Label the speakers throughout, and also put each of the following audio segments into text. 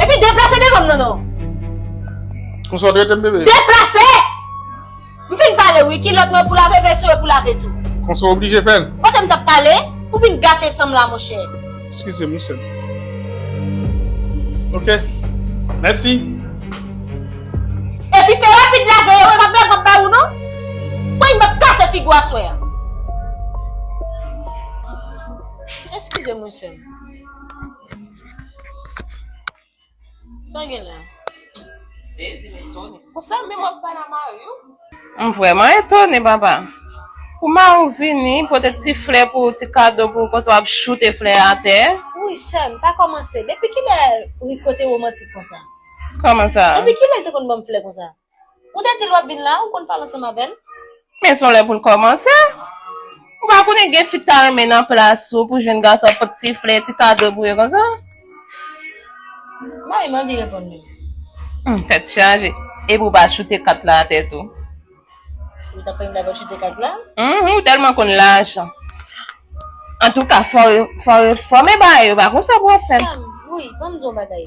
Speaker 1: Epi deplase devan m non non.
Speaker 2: Konsa w te rete m bebe? Deplase!
Speaker 1: M fin pale wi, kilòt mwen pou lave, veso yo pou lave tou. Konsa w oblije fè l?
Speaker 2: Kote m t ap pale?
Speaker 1: Ou vin gate san m la monchè. Eskize m wi sè m.
Speaker 2: Ok. Mèsi.
Speaker 1: Epi fè rapid lave yo, e pa blag m ap bay ou non. Woy m ap kase figi w aswè a. Eskize m wi sè m. Sa gen la? Sezi men Tony. Pou sa menm wap pale a mari ou? M vrèman etone
Speaker 3: papa. Pou mari ou vini, pote ti flè pou ou, ti kado pou ou konsa wap choute flè a atè. Wouyy sèm, pa
Speaker 1: kòmanse. Depi kilè Rico te romantik konsa? Kòman sa?
Speaker 3: Depi kilè l te konn banm flè
Speaker 1: konsa? Ou te dil wap vin la, ou konn pale ansanm avèl. Men son lè poul
Speaker 3: kòmanse. Ou pa konnen gen fi k ta renmen nan plas ou pou jwenn gason ap pot ti flè, ti kado pou yo konsa.
Speaker 1: Mari m anvi reponn li. Humm tèt
Speaker 3: chaje. Epi ou pa choute kat la atè tou. Ou
Speaker 1: ta prann dabò choute kat la? Humm ou tèlman konn
Speaker 3: lajan. Antouka fò fò fò men bagay yo pa konsa pou wap fèl. Sam, wi banm
Speaker 1: di yon bagay.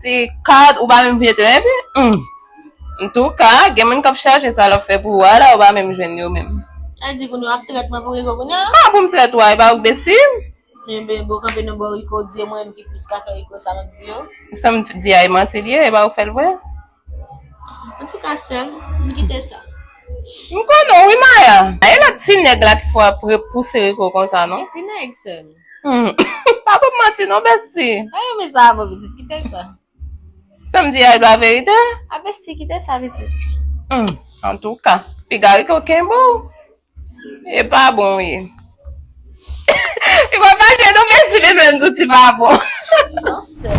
Speaker 3: Ti card ou pa menm vye tou epi humm Antouka gen moun kap chache sa lap fè pou ou a la ou pa menm jwenn yo menm. Sa di kounye w ap
Speaker 1: trèt mwen pou Rico kounye a? Kman pou m trèt ou a e pa
Speaker 3: ou k bestie m? Enben bon
Speaker 1: kanpe nan bò Rico di e mwen menm ki plis ka fè Rico sa map di yo. Sam di a e
Speaker 3: manti li ye e pa ou k fè l vre?
Speaker 1: An tou ka sèm, m kite sa. M konnen
Speaker 3: w wi Maya. Pa e lòt ti nèg la ki fè w ap pouse Rico konsa non. Ki ti nèg sèm?
Speaker 1: Pa
Speaker 3: banm manti non besti. Pa yon mizè avè w
Speaker 1: pitit, kite sa. Sa m
Speaker 3: di a e pa verite? A besti kite
Speaker 1: sa pitit. An
Speaker 3: tou ka, piga Rico kenbe w e pa bon w ye. Rico
Speaker 1: fache
Speaker 3: non besti li menm tou ti pa bon. Non sèm.